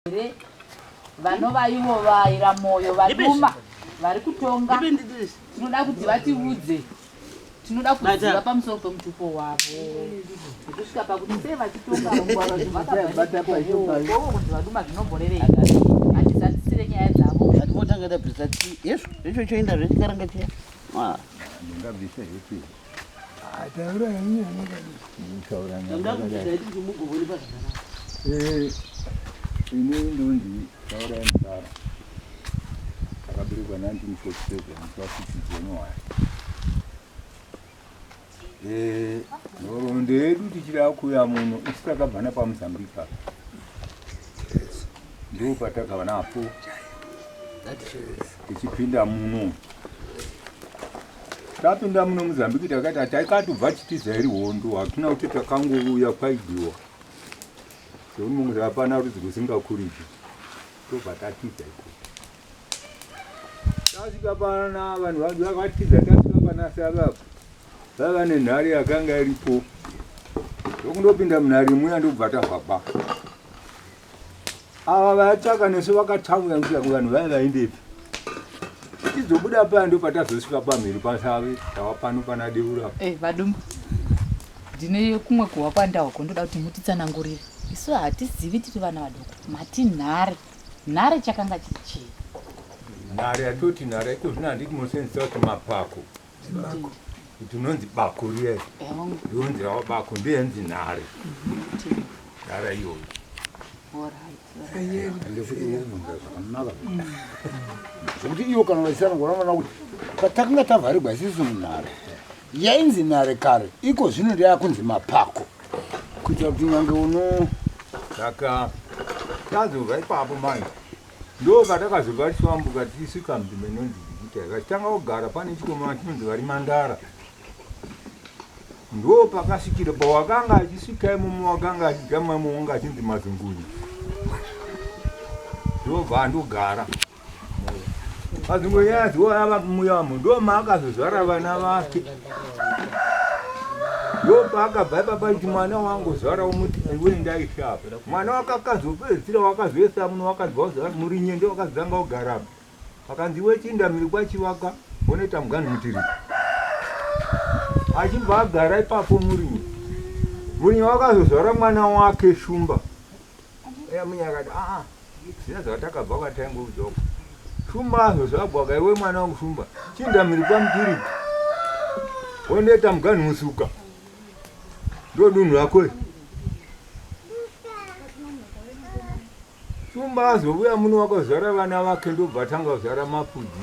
here vanova ivo vaira moyo vaduma vari kutonga tinoda kuti vatiudze tinoda kuziva pamusoro pemutupo wavo kusvika pakuti sei vachitonga vaduma zvinomborerei hatizadzisire nyaya dzavo atimotanga tabvisa hezvo zvecho choenda zvechikaranga chiya ini ndonzi taurai mudara akaberekwa 1947 kwakuchidzonowaya nhoroondo yedu tichida kuya muno isi takabva napamuzambika ndo patakava napo tichipinda muno Tapinda muno Mozambique takaita taikatobva chitiza iri hondo hakina kuti takangouya kwaidiwa zveunongozi hapana rudzi rwesingakuriji tobva tatiza iko tasvika pana vanhu vangu vakatiza tasvika pana savapo vaiva nenhare yakanga iripo ndokundopinda munhare muya ndokubva tavhaba ava vayatsvaka nesu vakatsamwira kuti yangu vanhu vaya vaindepi tizobuda paya ndo patazosvika pamhiri pasavi tava pano pana deura hey, eh, vadumbu ndine kumwe kuhwa kwandahoko ndoda kuti mutitsanangurire isu hatizivi tiri vana vadoko mati nhare nhare chakanga chichii nhare yatoti nhare iko zvino handiti mosenzisa kuti mapako Bako. Kuti unonzi bako riya iri. Ndonzi rawa bako ndiye anzi nhare. Nhara iyoyo. Zvekuti iyo kana vaisana ngona vana kuti patakanga tavharigwa isisu munhare yainzi nhare kare iko zvino ndiyakunzi mapako kuitira kuti nyange uno saka tazova ipapo manje Ndoo patakazobva tichiyambuka tichisvika munzvimbo inonzi Jigita vachitanga kugara pane chikomana chinonzi Varimandara. Ndoo pakasvikira pawakanga achisvika imomo wakanga achidya mumwe wanga achinzi Mazungunyu. Ndobva andogara. Mazungunyu aziwa ava muyamo ndoo maakazozvara vana vake. ndopaakabva ipapa kuti mwana wangu zvara umuti iwe ndaishapa mwana wakakazopedzisira wakazoisa muno wakabva uzati muri nyende wakazanga ugarapa akanzi iwe chinda miri kwachivaka unoita mugani mutiri achibva agara ipapo murinye murinye wakazozvara mwana wake shumba Yamunya akati aa zviya zvatakabva kwataingoudza uko shumba hazvo zvagwaka iwe mwana wangu shumba chinda mhiri kwamutiri wondoita muganhu musuka ndodunhu rako iri shumba azovuya muno wakazvara vana vake ndobva atanga kuzvara mapudzi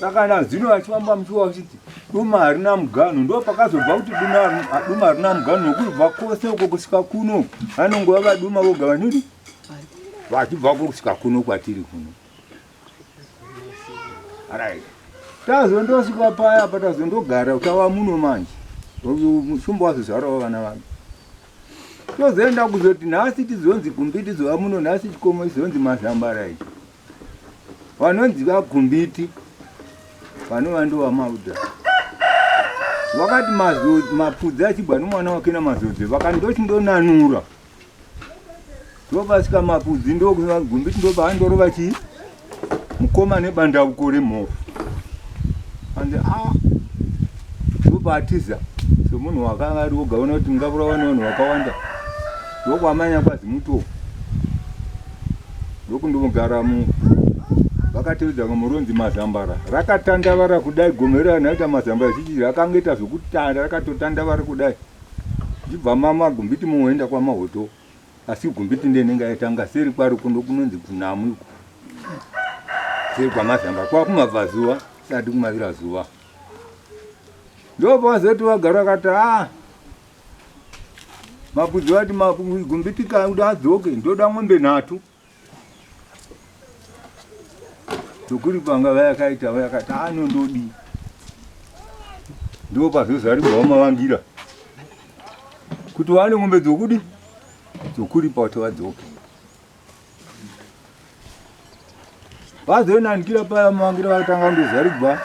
saka nazino vachivamba muchiwa vachiti duma harina muganhu ndo pakazobva kuti duma harina muganhu nokubva kwose uko kusvika kuno vanongova vaduma voga vanini vachibva ko kusvika kuno kwatiri kuno right tazondosvika paya apa tazondogara utava muno manje musumba wazozvarawo vana vangu tozoenda kuzoti nhasi tizonzi gumbi tizova muno nhasi chikomo izonzi mazambara izvi vanonzi vagumbiti vanova ndova mauda vakati mapfudzi achibva nomwana wake namazodzi vakati ndochindonanura ndovasika mapfudzi ndogumbiti ndovaandorova chii mukoma nebandauko remhofu and a ndobatiza somunhu wakanga ari woga ona kuti mungavurawa nevanhu vakawanda ndokwamanya kwazi mutoo ndokundomugara mu vakatiudza ngo muronzi mazambara rakatandavara kudai gomera rinoita mazambara chichi rakangoita zvokutanda rakatotandavara kudai ndibva mama gumbiti muoenda kwamahoto asi gumbiti ndenenge aitanga seri kwari kuno kunonzi kunamu iko seri kwamazambara kwakumabva zuva sati kumavira zuva ndopavazoti vagara vakati a ah, Mabudzi vati magumbitika kuti adzoke ndoda mombe nhatu. Tokuri panga vayakaita vayakati ano ndodi. Ndipo pazozaribwa mavangira. Kuti vane mombe dzokudi dzokuripa kuti vadzoke. vazoinanikira paya mavangire vakatanga ndozarigwa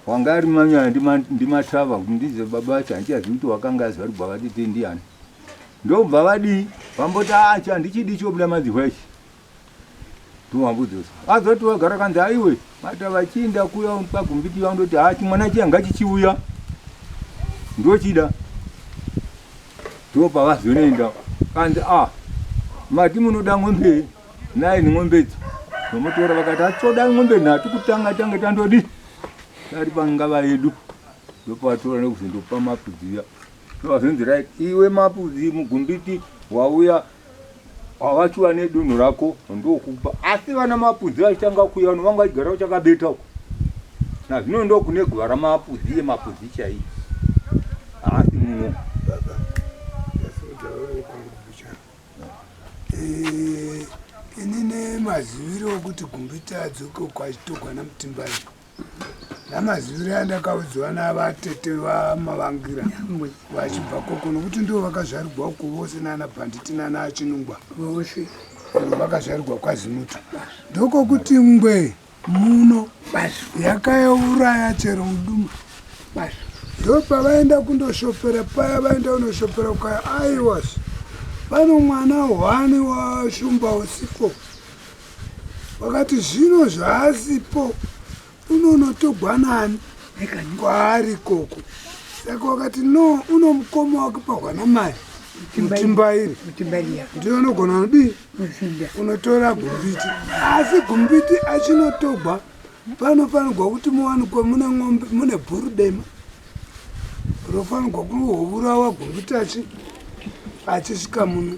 wanga ari manyaya ndimatava ndize baba vacho handichazivi kuti wakanga azarigwa vatete ndiani ndobva vadii vamboti acha ah, ndichidi chobuda madzihwa ichi ndovambudzisa azoti vagara kanzi aiwe Mata vachiinda kuya pagumbiti yavo ndoti haa chimwana chiya ngachichiuya ndochida ndopavazonoenda kanzi a ah, mati munoda ng'ombe naye neng'ombe idzo vamutora vakati hatitoda ng'ombe nhatu kutanga tange tandodi tari pangava yedu ndopavatora nekuzondopa mapudzi uya ndovazonzi right iwe mapudzi mugumbiti wauya Havachi vane dunhu rako ndokupa asi vana mapudzi vachitanga kuya vano vanga vachigara uchakabeta uko nazvino ndokune guva ramapudzi yemapudzi chaiyi haasi muno eh, ini nemaziviro okuti gumbita adzoke uko achitogwa namutimbayo namaziviro yandakaudziwa navatete vamavangira vachibva koko nokuti ndivo vakazvarigwa uko vose nana bhanditi nana achinungwa vose vakazvarigwa kwazimuto ndokokuti ngwe muno yakayauraya chero muduma ndo pavaenda kundoshopera paya vaenda kunoshopera kukaya aiwas pano mwana hwani washumba usipo Vakati zvino zvaasipo unonotogwa nani kwaari koko. Saka wakati no unomukoma wake pahwana mai mutimbairi ndiyo unogona nodii unotora gumbiti asi gumbiti achinotogwa panofanirwa kuti muwanikwe mune ng'ombe mune bhuru dema rofanirwa kuhovurawa gumbiti achi achisvika muno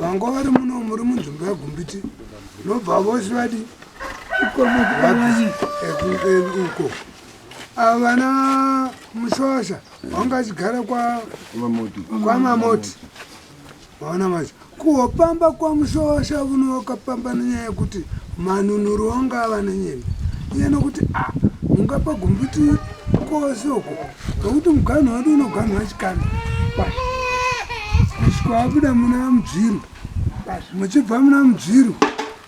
vanga vari muno muri munzvimbo yegumbiti nobva vose vadi uko avana ah, mushosha vanga achigara kwamamoti vaona manje kuhopamba kwamushosha vuno wakapamba nenyaya yekuti manunuru wanga ava nenyembe iye nokuti a ah, mungapa gumbiti kose uko nokuti muganhu wadu unoganhwa chikanda kwashi kusvika wabuda muna mudzviru kwashi muchibva muna mudzviru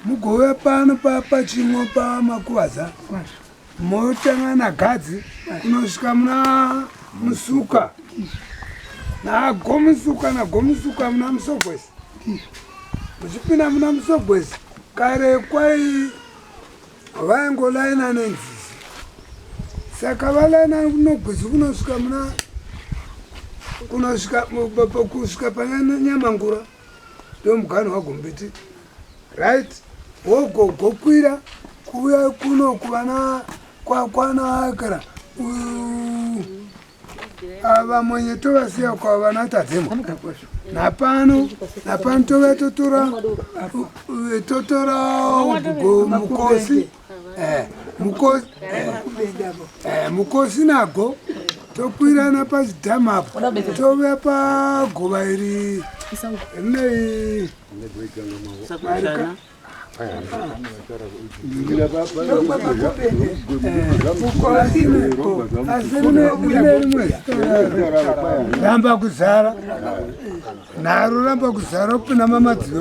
mugouya pano papachimwa pamakuvaza kwashi motanga nagadzi kunosvika muna musuka nagomusuka nagomusuka muna musogwesi muchipinda muna musogwesi kare kwai vaingolaina nenzizi saka valaina kunogwizi kunosvika muna kunosvika kusvika pananyamangura ndomugano wagombiti right wogogokwira kuuya kuno kuvana kwakwana akara ava mwenye tovasiya kwa vana tadzemo napano napano tove totora totora ugo mukosi eh, mukosi eh, eh, mukosi nago tokwirana pachidhamu apo tove pagova iri rinei ramba kuzara naro ramba kuzara kupinda mamadziva